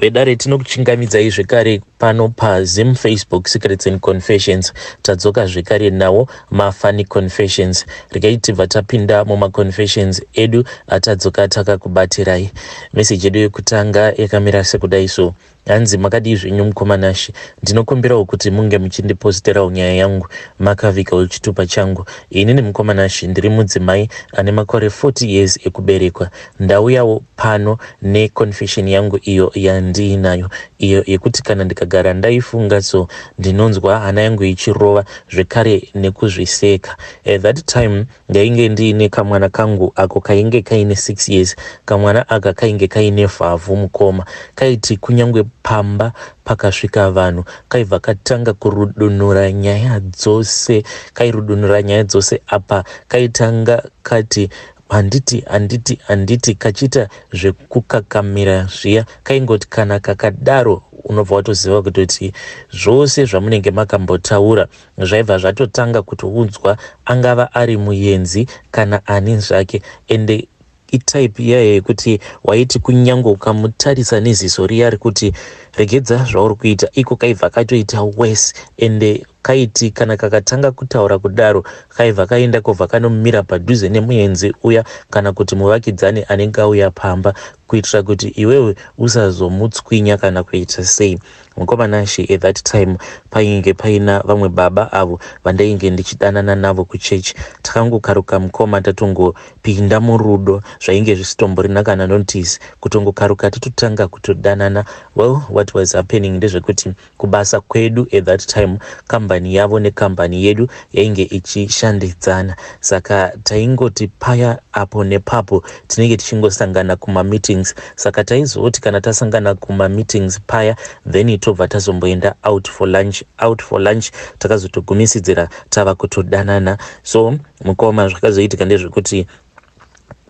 vedare tinokuchingamidzai zvekare pano pazim facebook secrets and confessions tadzoka zvekare nawo mafani confessions regai tibva tapinda mumaconfessions edu atadzoka takakubatirai meseji yedu yekutanga yakamira sekudai so Hanzi makadii zvenyu mukoma Nashe, ndinokumbirawo kuti munge muchindiposterawo nyaya yangu makaviga wechitupa changu. Inini mukoma Nashe ndiri mudzimai ane makore 40 years ekuberekwa. Ndauyawo pano ne confession yangu iyo yandiinayo iyo yekuti kana ndikagara ndaifunga so ndinonzwa hana yangu ichirova zvekare nekuzviseka. At that time Ndainge ndiine kamwana kangu ako kainge kaine six years. Kamwana aka kainge kaine vhavhu mukoma. Kaiti kunyangwe pamba pakasvika vanhu kaibva katanga kurudunura nyaya dzose. Kairudunura nyaya dzose apa kaitanga kati handiti handiti handiti kachiita zvekukakamira zviya kaingoti kana kakadaro unobva watoziva kutoti zvose zvamunenge makambotaura zvaibva zvatotanga kutounzwa angava ari muyenzi kana ani zvake ende itype iyayo yekuti waiti kunyange ukamutarisa neziso riya rekuti regedza zvauri kuita iko kaibva katoita wes ende kaiti kana kakatanga kutaura kudaro kaibva kaenda kobva kanomira padhuze nemuenzi uya kana kuti muvakidzani anenge auya pamba kuitira kuti iwewe usazomutswinya kana kuita sei Mukoma Nashe at that time painge paina vamwe baba avo vandainge ndichidanana navo kuchurch. Takangokaruka mukoma tatongopinda murudo zvainge zvisitomborina kana notice. Kutongokaruka tototanga kutodanana. Well what was happening ndezvekuti kubasa kwedu at that time kambani yavo nekambani yedu yainge ichishandidzana saka taingoti paya apo nepapo tinenge tichingosangana kumameetings saka taizoti kana tasangana kumameetings paya then tobva tazomboenda out for lunch out for lunch takazotogumisidzira tava kutodanana so mukoma zvakazoitika ndezvekuti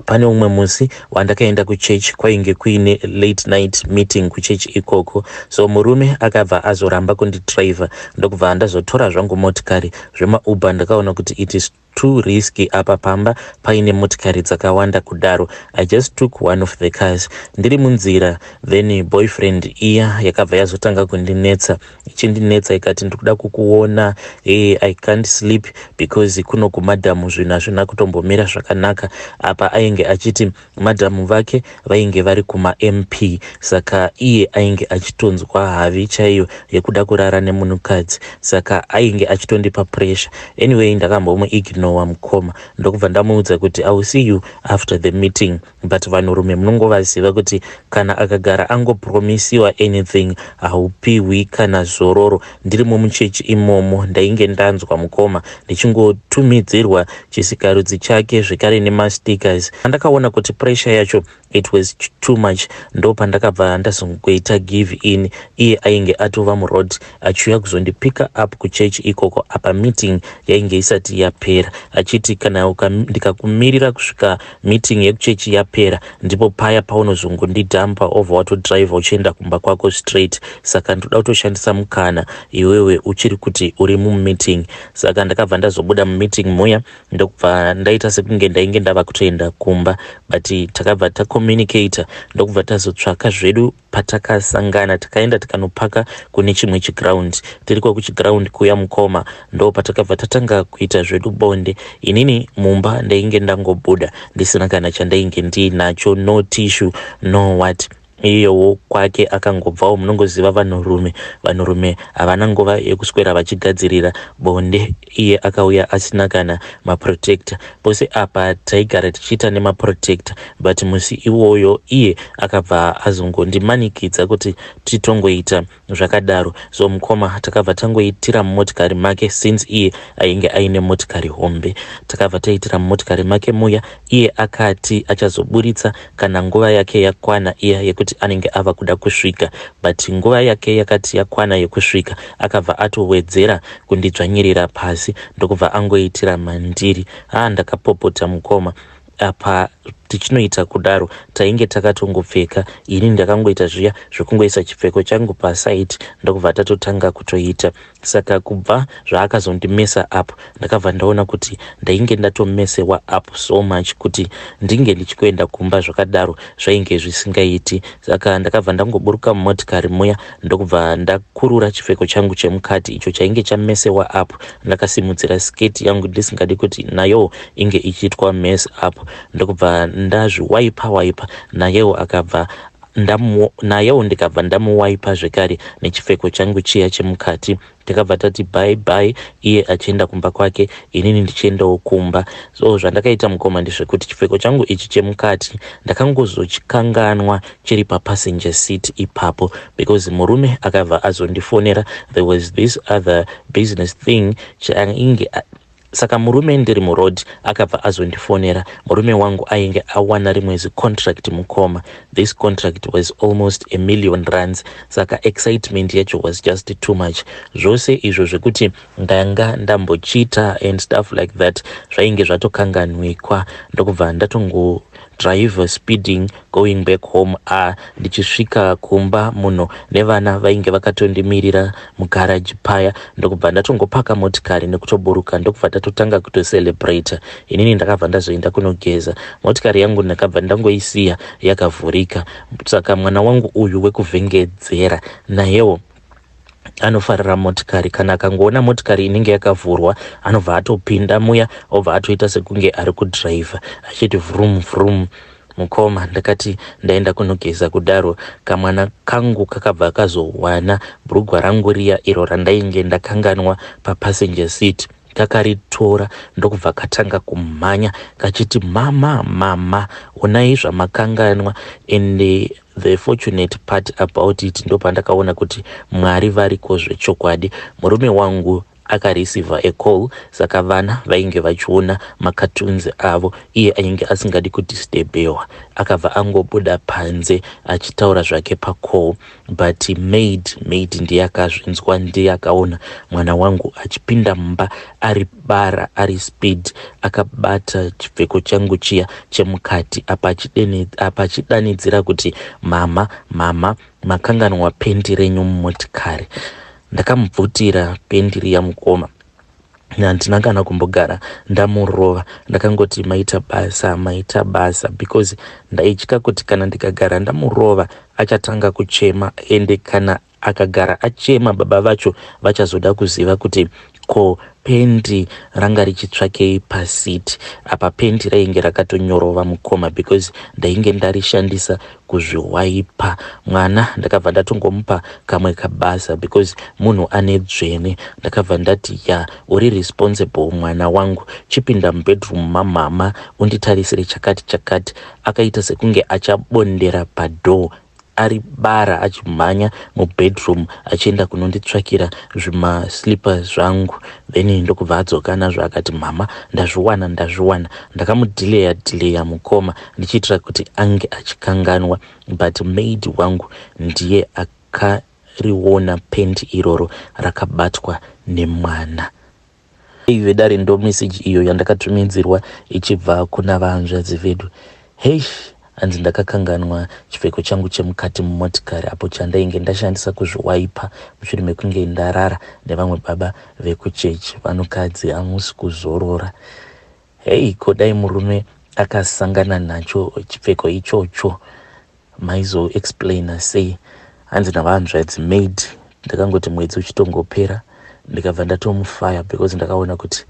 pane umwe musi wandakaenda kuchechi kwainge kuine late night meeting kuchechi ikoko so murume akabva azoramba kundidriver ndokubva andazotora zvangu motikari zvemauber ndakaona kuti it is Too risky apa pamba paine motikari dzakawanda kudaro. I just took one of the cars ndiri munzira then boyfriend iya yakabva yazotanga kundinetsa ichindinetsa ikati ndikuda kukuona hey, I can't sleep because kuno kumadam zvinhu hazvina kutombomira zvakanaka apa ainge achiti Madam vake vainge vari kuma MP saka iye ainge achitonzwa havi chaiyo yekuda kurara nemunhukadzi saka ainge achitondipa pressure. Anyway ndakambomu ignowa mukoma ndokubva ndamuudza kuti I will see you after the meeting but vanhurume munongovaziva kuti kana akagara angopromisiwa anything haupihwi kana zororo. Ndirimo muchechi imomo ndainge ndanzwa mukoma ndichingotumidzirwa chisikarudzi chake zvekare nemastickers. Pandakaona kuti pressure yacho it was too much ndopandakabva ndazongoita give in iye ainge atova muroad achiuya kuzondipicker up kuchechi ikoko apa meeting yainge isati yapera achiti kana ndikakumirira kusvika Meeting yekuchechi yapera ndipo paya paunozongondidhampa over watodriver uchienda kumba kwako straight saka ndoda kutoshandisa mukana iwewe uchiri kuti uri mumeeting. Saka ndakabva ndazobuda mumeeting muya ndokubva ndaita sekunge ndainge ndava kutoenda kumba but takabva tacommunicator ndokubva tazotsvaka zvedu Patakasangana takaenda tikanopaka kune chimwe chiground. Tiriko kuchiground kuya mukoma ndopatakabva tatanga kuita zvedu bonde. Inini mumba ndainge ndangobuda ndisina kana chandainge ndiinacho no tissue no what iyewo kwake akangobvawo munongoziva vanhurume vanhurume havana nguva yekuswera vachigadzirira bonde iye akauya asina kana maprotector pose apa taigara tichiita nemaprotector but musi iwoyo iye akabva azongondimanikidza kuti titongoita zvakadaro so mukoma takabva tangoitira mumotikari make since iye ainge aine motikari hombe takabva taitira mumotikari make muya iye akati achazoburitsa kana nguva yake yakwana iya yekuti anenge ava kuda kusvika but nguva yake yakati yakwana yekusvika akabva atowedzera kundidzvanyirira pasi ndokubva angoitira mandiri haa ndakapopota mukoma apa tichinoita kudaro tainge takatongopfeka ini ndakangoita zviya zvekungoisa chipfeko changu paside ndokubva tatotanga kutoita Saka kubva zvaakazondimesa up ndakabva ndaona kuti ndainge ndatomesewa up so much kuti ndinge ndichikoenda kumba zvakadaro zvainge zvisingaiti. Saka ndakabva ndangoburuka mumotikari muya ndokubva ndakurura chipfeko changu chemukati icho chainge chamesewa up ndakasimudzira sketi yangu ndisingadi kuti nayowo inge ichiitwa mess up ndokubva ndazviwaipa waipa nayewo akabva ndamu nayewo ndikabva ndamuwaipa zvekare nechipfeko changu chiya chemukati takabva tati bye bye iye achienda kumba kwake inini ndichiendawo kumba so zvandakaita mukoma ndezvekuti chipfeko changu ichi chemukati ndakangozochikanganwa chiri papassenger seat ipapo because murume akabva azondifonera there was this other business thing chainge Saka murume ndiri muroad akabva azondifonera. Murume wangu ainge awana rimwe zicontract mukoma. This contract was almost a million rands saka excitement yacho was just too much. Zvose izvo zvekuti ndanga ndambochita and stuff like that zvainge zvatokanganwikwa ndokubva ndatongo driver speeding going back home ah ndichisvika kumba munhu nevana vainge vakatondimirira mugarage paya ndokubva ndatongopaka motikari nekutoburuka ndokubva tatotanga kutocelebrate inini ndakabva ndazoenda kunogeza motikari yangu ndakabva ndangoisiya yakavhurika saka mwana wangu uyu wekuvhengedzera nayewo anofarira motikari kana akangoona motikari inenge yakavhurwa anobva atopinda muya obva atoita sekunge ari kudhiraivha achiti vrum vrum mukoma ndakati ndaenda kunogeza kudaro kamwana kangu kakabva kazowana brugwa rangu riya iro randainge ndakanganwa papassenger seat kakaritora ndokubva katanga kumhanya kachiti mama mama onai zvamakanganwa ende The fortunate part about it ndopandakaona kuti Mwari variko zvechokwadi. Murume wangu akareceiver a call saka vana vainge vachiona makatunzi avo iye ainge asingadi kudisturbewa akabva angobuda panze achitaura zvake pacall but maid maid ndiye akazvinzwa ndiye akaona mwana wangu achipinda mumba ari Bara ari speed akabata chipfeko changu chiya chemukati apa achidene- apa achidanidzira kuti mhamha mhamha makanganwa pendi renyu mumotikari ndakamubvutira pendi riya mukoma handina kana kumbogara ndamurova ndakangoti maita basa maita basa because ndaitya kuti kana ndikagara ndamurova achatanga kuchema ende kana Akagara achema baba vacho vachazoda kuziva kuti ko pendi ranga richitsvakei paseat apa pendi rainge rakatonyorova mukoma because ndainge ndarishandisa kuzviwaipa mwana ndakabva ndatongomupa kamwe kabasa because munhu ane dzvene ndakabva ndati ya uri responsible mwana wangu chipinda mubedroom mamama unditarisire chakati chakati akaita sekunge achabondera padoor ari bara achimhanya mubedroom achienda kunonditsvakira zvimaslippers zvangu then ndokubva adzoka nazvo akati mhama ndazviwana ndazviwana ndakamudileya dileya mukoma ndichiitira kuti ange achikanganwa but maid wangu ndiye akariona pent iroro rakabatwa nemwana Hey vedare ndo message iyo yandakatumidzirwa ichibva kuna vahanzvadzi vedu. Heish hanzi ndakakanganwa chipfeko changu chemukati mumotikari apo chandainge ndashandisa kuzviwaipa mushure mekunge ndarara nevamwe baba vekuchechi. Vanhukadzi hamusi kuzorora. Hey ko dai murume akasangana nacho chipfeko ichocho maizo explaina sei hanzi navahanzvadzi maid ndakangoti mwedzi uchitongopera ndikabva ndatomufaya because ndakaona kuti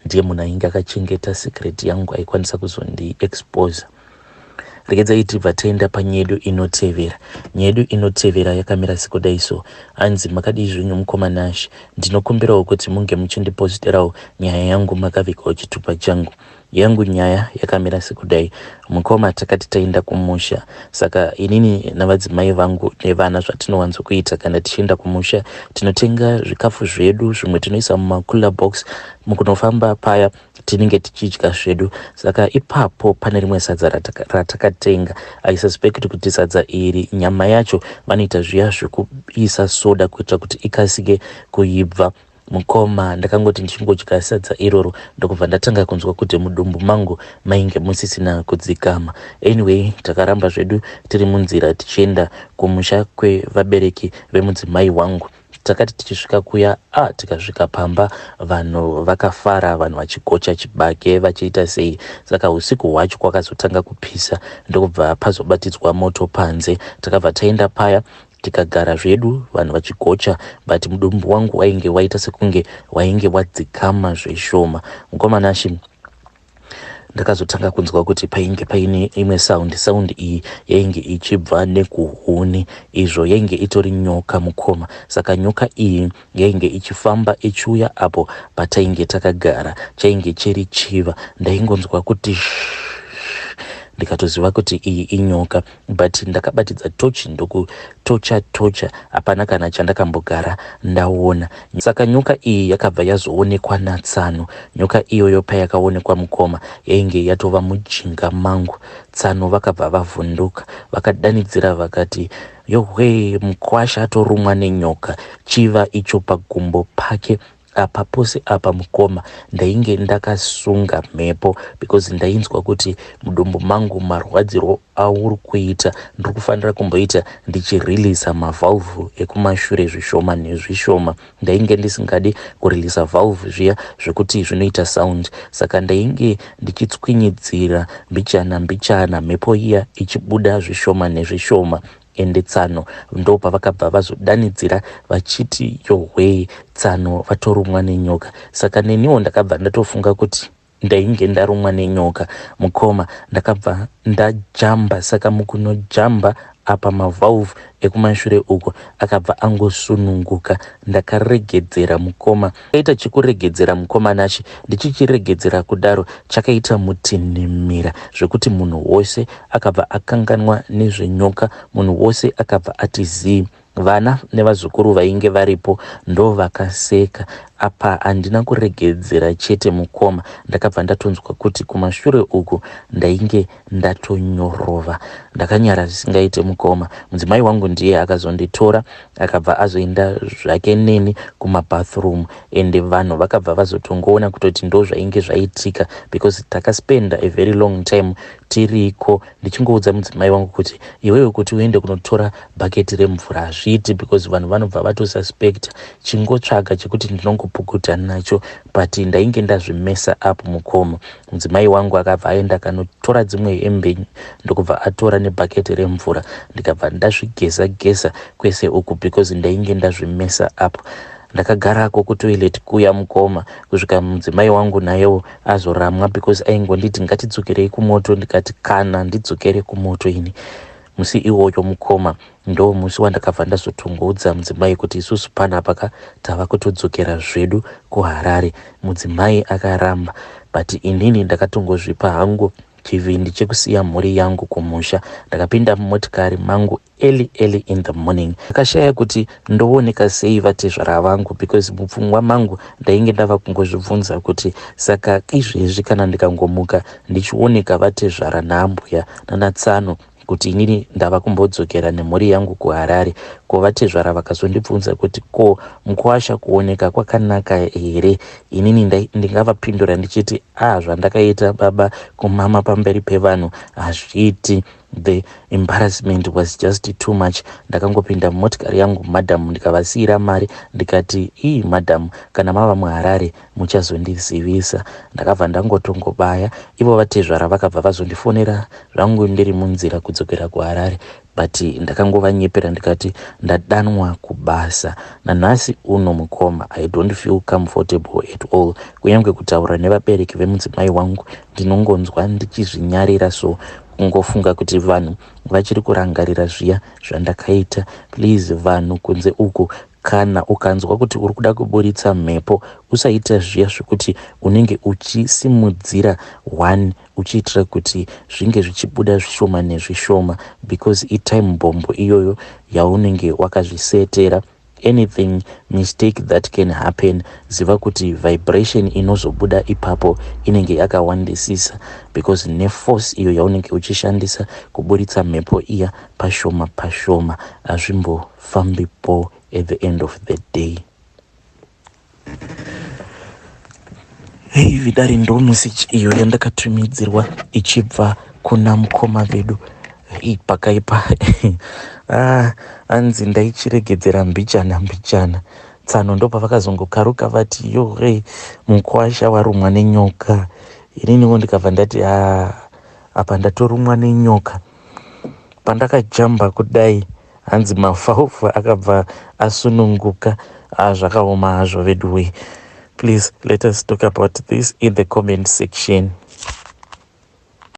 ndiye munhu ainge akachengeta secret yangu aikwanisa kuzondi exposer regedzai tibva taenda panyedu inotevera nyedu inotevera yakamira sekudai so hanzi makadii zvenyu mukoma nash ndinokumbirawo kuti munge muchindiposterawo nyaya yangu makavikawo chitupa changu yangu nyaya yakamira sekudai mukoma takati taenda kumusha saka inini navadzimai vangu nevana zvatinowanzokuita kana tichienda kumusha tinotenga zvikafu zvedu zvimwe tinoisa mumakula box mukunofamba paya tinenge tichidya zvedu saka ipapo pane rimwe sadza ratakatenga i suspect kuti sadza iri nyama yacho vanoita zviya zvekuisa soda kuitira kuti ikasike kuibva mukoma ndakangoti ndichingodya sadza iroro ndokubva ndatanga kunzwa kuti mudumbu mangu mainge musisina kudzikama anyway takaramba zvedu tiri munzira tichienda kumusha kwevabereki vemudzimai wangu Takati tichisvika kuya a tikasvika pamba vanhu vakafara vanhu vachigocha chibage vachiita sei saka usiku hwacho kwakazotanga kupisa ndokubva pazobatidzwa moto panze takabva taenda paya tikagara zvedu vanhu vachigocha but mudumbu wangu wainge waita sekunge wainge wadzikama zveshoma mukomana shi ndakazotanga kunzwa kuti painge paine imwe sound sound iyi yainge ichibva nekuhuni izvo yainge itori nyoka mukoma saka nyoka iyi yainge ichifamba ichiuya apo patainge takagara chainge chiri chiva ndaingonzwa kuti ndikatoziva kuti iyi inyoka but ndakabatidza tochi ndokutocha tocha hapana kana chandakambogara ndaona saka nyoka iyi yakabva yazoonekwa natsano nyoka iyoyo payakaonekwa mukoma yainge yatova mujinga mangu tsano vakabva vavhunduka vakadanidzira vakati yohwee mukwasha atorumwa nenyoka chiva icho pagumbo pake Apa pose apa mukoma ndainge ndakasunga mhepo because ndainzwa kuti mudumbu mangu marwadzirwo auri kuita ndiri kufanira kumboita ndichireleasa mavalve ekumashure zvishoma nezvishoma. Ndainge ndisingadi kureleasa valve zviya zvekuti zvinoita sound saka ndainge ndichitswinyidzira mbichana mbichana mhepo iya ichibuda zvishoma nezvishoma. Ende tsano ndopavakabva vazodanidzira vachiti yohwee tsano vatorumwa nenyoka saka neniwo ndakabva ndatofunga kuti ndainge ndarumwa nenyoka mukoma ndakabva ndajamba saka mukunojamba apa mavalve ekumashure uko akabva angosununguka ndakaregedzera mukoma Chakaita chekuregedzera mukoma Nashe ndichichiregedzera kudaro chakaita mutinhimira zvekuti munhu wose akabva akanganwa nezvenyoka munhu wose akabva ati zii. Vana nevazukuru vainge varipo ndovakaseka apa handina kuregedzera chete mukoma ndakabva ndatonzwa kuti kumashure uku ndainge ndatonyorova ndakanyara zvisingaite mukoma mudzimai wangu ndiye akazonditora akabva azoenda zvake neni kumabathroom ende vanhu vakabva vazotongoona kutoti ndo zvainge zvaitika because takaspenda a very long time tiriko ndichingoudza mudzimai wangu kuti iwewe kuti uende kunotora bhaketi remvura hazviiti because vanhu vanobva vatosuspecta chingotsvaga chekuti ndinongopukuta nacho but ndainge ndazvimesa up mukoma Mudzimai wangu akabva aenda akanotora dzimwe hembe ndokubva atora nebhaketi remvura ndikabva ndazvigeza geza kwese uku because ndainge ndazvimesa up ndakagarako kutoilet kuya mukoma kusvika mudzimai wangu nayewo azoramwa because aingonditi ngatidzokirei kumoto ndikati kana ndidzokere kumoto ini Musi iwoyo mukoma ndomusi wandakabva ndazotongoudza mudzimai kuti isusu panapa ka tava kutodzokera zvedu kuHarare. Mudzimai akaramba but inini ndakatongozvipa hangu chivindi chekusiya mhuri yangu kumusha. Ndakapinda mumotikari mangu early early in the morning. Ndakashaya kuti ndooneka sei vatezvara vangu because mupfungwa mangu ndainge ndava kungozvibvunza kuti saka izvezvi kana ndikangomuka ndichioneka vatezvara naambuya nana tsano kuti inini ndava kumbodzokera nemhuri yangu kuharare ko vatezvara vakazondibvunza kuti ko mukuwasha kuoneka kwakanaka here inini ndingavapindura ndichiti a ah, zvandakaita baba kumama pamberi pevanhu hazviiti The embarrassment was just too much ndakangopinda mumotikari yangu madam ndikavasiira mari ndikati ii madam kana mava muharare muchazondizivisa ndakabva ndangotongobaya ivo vatezvara vakabva vazondifonera zvangu ndiri munzira kudzokera kuharare but ndakangovanyepera ndikati ndadanwa kubasa nanhasi uno mukoma i don't feel comfortable at all kunyange kutaura nevabereki vemudzimai wangu ndinongonzwa ndichizvinyarira so kungofunga kuti vanhu vachiri kurangarira zviya zvandakaita please vanhu kunze uku kana ukanzwa kuti uri kuda kuburitsa mhepo usaita zviya zvekuti unenge uchisimudzira one uchiitira kuti zvinge zvichibuda zvishoma nezvishoma because itime bombo iyoyo yaunenge wakazvisetera anything mistake that can happen ziva kuti vibration inozobuda ipapo inenge yakawandisisa because neforce iyo yaunenge uchishandisa kuburitsa mhepo iya pashoma pashoma hazvimbofambipo at the end of the day Hey, vidari ndo message iyo yandakatumidzirwa ichibva kuna mukoma vedu hey, pakaipa ah, anzi ndaichiregedzera mbichana mbichana tsano ndo pavakazongokaruka vati yo hey, mukwasha warumwa nenyoka ininiwo ndikabva ndati ah, apa ndatorumwa nenyoka pandakajamba kudai hanzi mafaufa akabva asununguka ah, zvakaoma hazvo veduwee please let us talk about this in the comment section